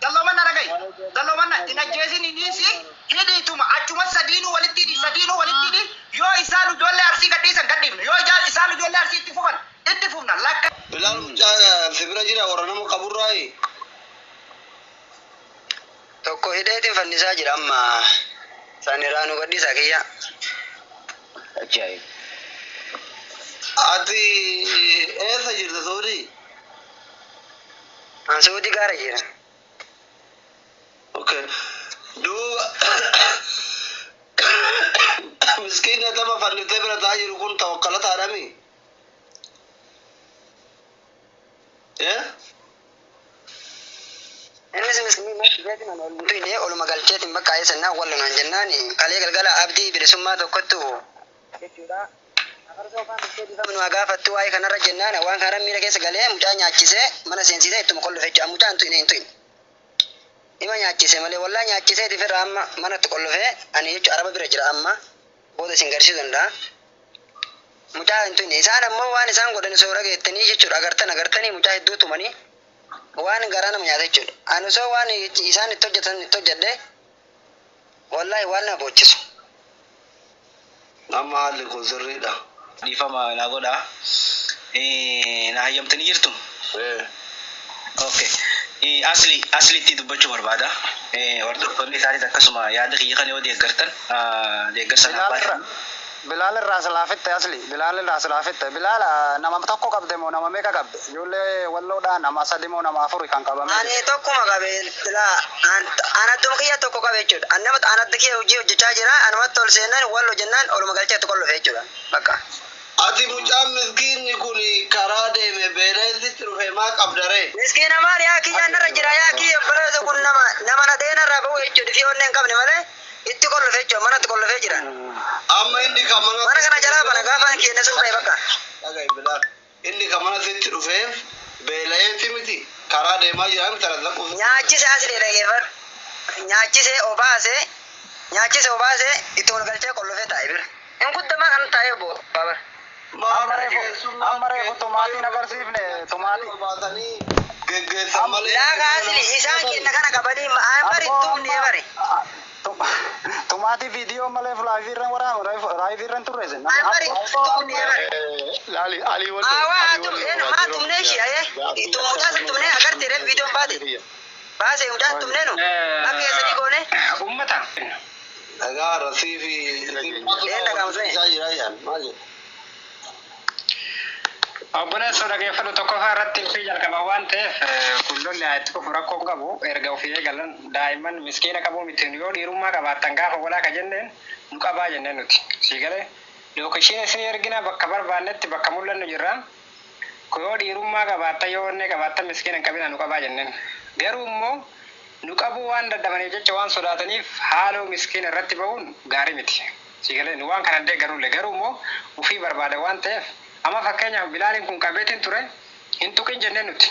Dalloomanna dhaga'i! Dalloomanna! Hin ajjeesini dhiisi, hidhi ituma, achumas sadiinuu walitti hidhi, sadiinuu walitti hidhi, yoo isaanu ijoollee Arsii gadhiisan gadhiifna, yoo ijaa, isaanu ijoollee Arsii itti fufan itti fufna, lakka. Bilaal mucaa si bira jira warra nama qaburraayi tokko hidheetin fannisaa jira amma san irraa nu gadhiisaa kiyyaa. Ati eessa jirta Soodii? An Suudi gaara jira. Ok duuba miskiina tama fannifte bira taa jiru kun tawakkalataadhami Eh? Innis miskiina jeetiin an ol hin tuyne oluma galcheetiin bakka eessannaa wal lolaan jennaan kalee galgala abdii bilisummaa tokkottu jechuudha Afarsa ofaa mittee dhifama nu haa gaafattu waa'ee kanarra jennaan waan kanarra miira keessa galee mucaa nyaachisee mana seensiisee ittuma kollofe jechuudha mucaa hin tuyne hin tuyne ima nyaachise malee wallahi nyaachisee itti firra amma mana itti kollofe ani jechu araba bira jira amma booda isin garsiisu danda'a mucaa hin tuyne isaan ammoo waan isaan godhan osoo dhageettanii jechuudha agartan agartanii mucaa hedduu tumanii waan garaa nama nyaata jechuudha ani osoo waan isaan itti hojjetan itti hojjedhe Wallaahi waan na boochisu. Amma haalli koo sirrii dha. Dhiifama naa godhaa. Na hayyamtanii jirtu? Ee. Ok. Asli, Asli tti dubbachuu barbaada. Hordoftoonni isaatis akkasuma yaada kiyya kana yoo deeggartan, deeggarsa naaf baay'ifama. Bilaal irraa silaa fitte asli. Bilaal irraa silaa fitte. Bilaal nama tokko qabde moo nama meeqa qabde? Ijoollee walloo dhaa nama sadi moo nama afuri kan qabame jiru. Ani tokkuma qabe silaa an an adduma kiyya tokko qabe jechuudha. An nama an adda kiyya hojii hojjechaa jira anumatti ol seennaan wallo jennaan oluma galchee itti qollofe jechuudha bakka. Ati mucaan miskiinni kun karaa deeme beela'ee sitti dhufe maa qabda ree? Miskiina maal yaa kiyyaan narra jira yaa kiyya obboleessa kun nama nama nadhee narraa ba'u jechuudha fi onnee hin qabne malee. Itti kollofe jechuun mana itti kollofee jira. Amma inni kan mana Mana kana jalaa bana gaafa hin keenne sun ba'e bakka. Dhaga'i bilaa. Inni kan mana sitti dhufee beela'eeti miti karaa deemaa jira miti anas lakkoofsa. Nyaachise as fide dhageeffadhu. Nyaachise obaase nyaachise obaase itti wal galchee kollofee taa'e bira. Hin guddamaa kan taa'ee bo. Baabar. Amma reefu amma reefu tumaatiin agarsiifne tumaatii. Baatanii geggeessan Am- malee. Laa kaasili isaan kenna kana qabanii ma- aan bari Abboo tumnee amma bari. a- tu- tumaatii viidiyoo malee fulaayivii irra waraanu raayivii irra hin turre isin. Aan bari Abboo tumnee amma. bari. Laali alii wal Aa waa tum een maa tumnee ishii ayee. Tum mucaa san tumnee agartee ree viidiyoon baate. Baasee mucaa tumnee nu. Akka eessanii goonee. Ummata. Dhagaa rasii fi Ee dhagaama sun. isaa jira jedhan maal jedhu? Obboleessoo dhageeffadhu tokkoffaa irratti ofii jalqaba waan ta'eef eh, kun lolli haa itti fufu rakkoo hin qabu erga ofii eegalan daa'imman miskiina qabuu miti nu yoo dhiirummaa qabaattan gaafa walaa ka jenneen nu qabaa jenneen nuti sii galee lookeshiin isinii ergina bakka barbaannetti bakka mul'annu jirra ko yoo dhiirummaa qabaatta yoo onnee qabaatta miskiina hin qabinaa nu qabaa jenneen garuu immoo nu qabuu waan dadhabaniif jecha waan sodaataniif haaloo miskiina irratti ba'uun gaarii miti sii galee nu waan kana hin deeggarulle garuu immoo ufii barbaada waan ta'eef amma fakkeenyaaf bilaaliin kun qabeetiin ture hin tuqin jenneen nuti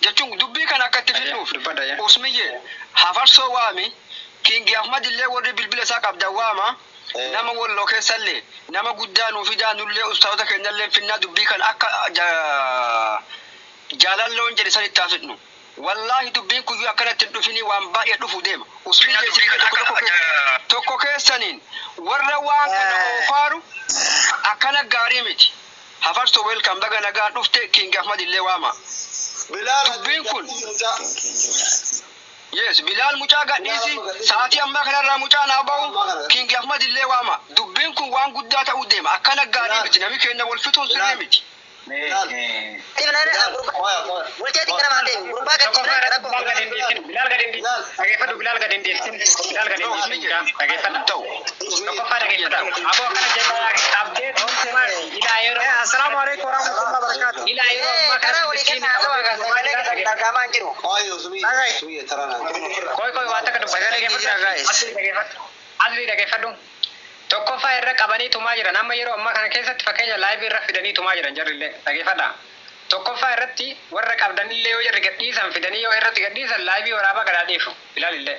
jechuun dubbii kana akka itti fidnuuf Usmiyyee ha farsoo waami King Ahmad illee warri bilbila isaa qabdan waama nama Walloo keessa illee nama guddaa nuu fidaa nullee ustaazota keenya illeen finnaa dubbii kana akka Jaalan loon jedhe san itti haa fidnu wallaahi dubbiin kun yoo akkanatti hin dhufinii waan baay'ee dhufu deema Usmiyyee isinillee tokko tokko keessan tokko keessaniin warra waan kana oofaaru akkana gaarii miti. Hafarso welcome baga nagaan dhufte king ahmad illee waama Bilaal dubbiin kun Hajjii Mucaa King Ahmad. yes bilaal mucaa gadhiisi sa'atii ammaa kanarraa mucaan haa ba'u king ahmad illee waama dubbiin kun waan guddaa ta'uu deema akkana gaarii miti nami keenna wal fixuun sirrii miti Bilaal. Bilaal gad hin dhiisin. Dhageeffadhu Bilaal gad hin dhiisin. Bilaal gad hin dhiisin. Dhageeffadha. ta'u Tokkoffaa dhageeffadha. Aboo akkana jedhaa qabdee tokko maali? Ilaa yeroo. Assalaamu alaikum warahmatullahi wabarakatuh. Ilaa yeroo ammaa kana bulchiin qabdee tokko maali? Dhagaamaan jiru. Koi koi waan takka dubbatan dhageeffadhu. Asli dhageeffadhu. Tokkoffaa irra qabanii tumaa jiran amma yeroo ammaa kana keessatti fakkeenya laayivii irra fidanii tumaa jiran jarrillee dhageeffadha. Tokkoffaa irratti warra qabdanillee yoo jarri gadhiisan fidanii yoo irratti gadhiisan laayivii waraabaa gadaa dhiifu ilaalillee.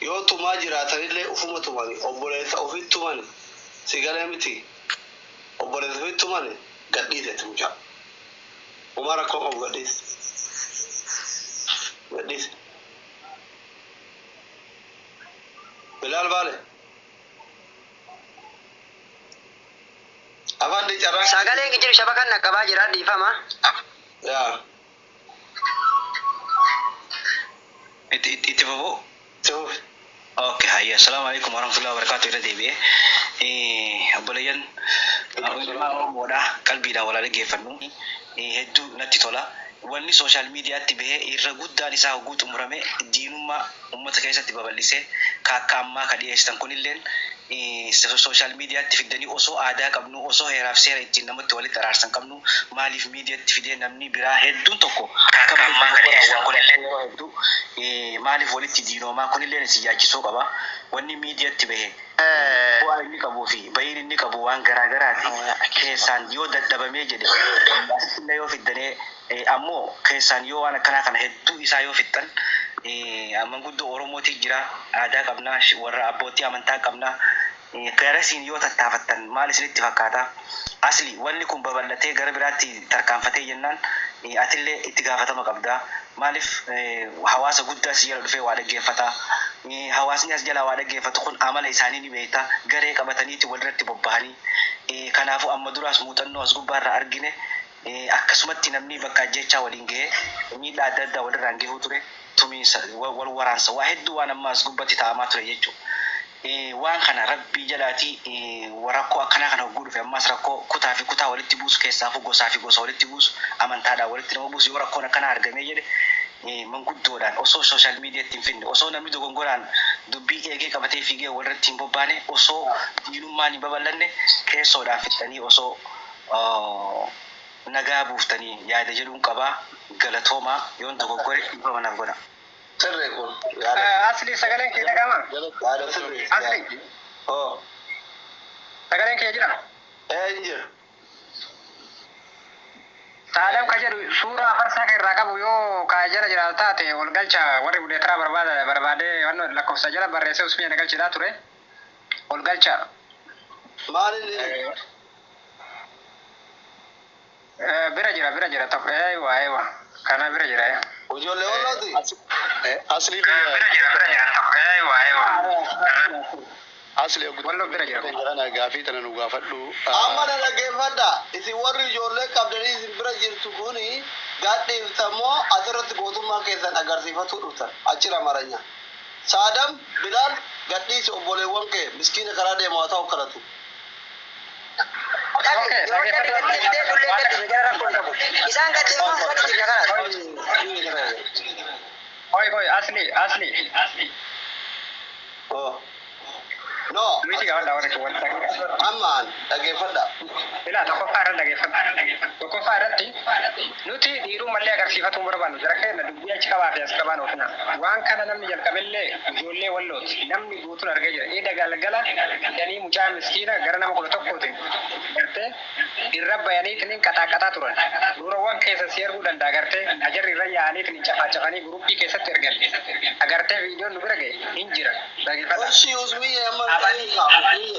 Yoo tumaa jiraatanillee ufuma tumani obboleessa ofiit tumani si galee miti obboleessa ofiit tumani gadhiisi ati mucaa homaa rakkoo qabu gadhiisi gadhiisi bilaal baale afaan dee carraa. Sagaleen hin jiru shabakan dhaqqabaa jira dhiifama. Yaa. Itti itti itti fufu itti fufi okay hayya assalamu alaikum warahmatullahi wabarakatuh irra deebi'ee Eh, obboleeyyan eh, ilmaan oromoodha qalbiidhaan walaa dhaggeeffannu Eh, hedduu natti tola wanni sooshaal miidiyaatti bahee irra guddaan isaa hogguu xumurame diinummaa ummata keessatti babal'isee ka akka ammaa ka dhiyeessitan kunilleen eh, so- sooshaal miidiyaatti fiddanii osoo aadaa qabnu osoo heeraaf seera ittiin namatti walitti araarsan qabnu maaliif miidiyatti fidee namnii biraa hedduun tokko akka malee dogogoraa waa godhanii yeroo hedduu maaliif walitti diinoomaa kunilleen isin yaachisuu qaba wanni miidiyatti bahe bu'aa inni qabuu fi bayiin inni qabu waan garaa garaati keessaan yoo dadhabamee jedhe asittillee yoo fiddanee ammoo keessaan yoo waan akkanaa kana hedduu isaa yoo fixxan manguddoo oromootii jira aadaa qabna warra abboottii amantaa qabna Garasiin yoo tattaafattan maal isinitti fakkaata? Asli, Wanni kun babal'atee gara biraatti tarkaanfatee jennaan atillee itti gaafatama qabda. Maaliif hawaasa guddaa si jala dhufee waa dhaggeeffata. Hawaasni as jalaa waa dhaggeeffatu kun amala isaanii ni beekta. Garee qabataniiti walirratti bobbahanii. Kanaafuu amma duraas muuxannoo as gubbaarraa argine. Akkasumatti namni bakka ajjeechaa waliin gahe miidhaa adda addaa walirraan gahuu ture. Tumiinsa, wal waraansa waa hedduu waan amma as gubbatti taa'amaa ture jechu. Waan kana Rabbii jalaati rakkoo akkanaa kana hogguu dhufe ammaas rakkoo kutaa fi kutaa walitti buusu keessaafuu gosaa fi gosa walitti buusu, amantaadhaan walitti nama buusu yoo rakkoon akkanaa argamee jedhe manguddoodhaan osoo social mediatti hin fidne, osoo namni dogongoraan dubbii eegee qabatee fiigee walirratti hin bobbaane, osoo diinummaan hin babal'anne keessoodhaan fixxanii osoo nagaa buuftanii yaada jedhuun qaba. Galatoomaa. Yoon dogoggore dhiifama naaf godhaa. Sirrii kun yaada sirrii. Asli sagaleen kee dhaga'amaa? Yaada sirrii. Asli. Hoo. Sagaleen kiyya jira? Ee hin jira. Saadam ka jedhu suuraa farsaa kee irraa qabu yoo ka jala jiraatu taate wal galcha warri budeetaraa barbaada barbaadee wanno lakkoofsa jala barreessee usmiya na galchiidhaa ture wal galcha. Maal inni? Eh, bira jira bira jira tokko ewa ewa kana bira jira eh. Ijoollee wallooti. Asli Eh, bira jira bira jira tokko ewa ewa kana Asli Wallo bira jira. kana gaafii tana nu gaafadhu. Amma na dhaggeeffadha. Isin warri ijoollee qabdanii isin bira jirtu kuni gadhiiftan moo asirratti gootummaa keessan agarsiifatuu dhuftan? Achira maranya. Saadam, Bilaal, gadhiisi obboleewwan kee miskiina karaa deemu haa ta'u kadhatu. Isaan gadi immoo muka dhibbi na kana. Koi koi asli asli. Oh. No. Miti gaafa daawwata kee wanta. Ammaan dhaggeeffadha. Ilaa tokkoffaa irra dhageeffadha. Tokkoffaa irratti nuti dhiiruu mallee agarsiifatu hin barbaannu jira keenya dubbii achi qabaa fi as qabaan oofina. Waan kana namni jalqabellee ijoollee wallooti. Namni guutuun argee jira. Eda galgala fidanii mucaa miskiina gara nama 11ti gartee irra bayaniitiniin qaxaaqaxaa turan. Suurawwan keessan sii arguu danda'a gartee ka jarri irra yaa'aniitiniin cafaacafanii guruuppii keessatti ergan ka gartee viidiyoon nu bira gahe hin jira. Dhagefadhaa. Abanii.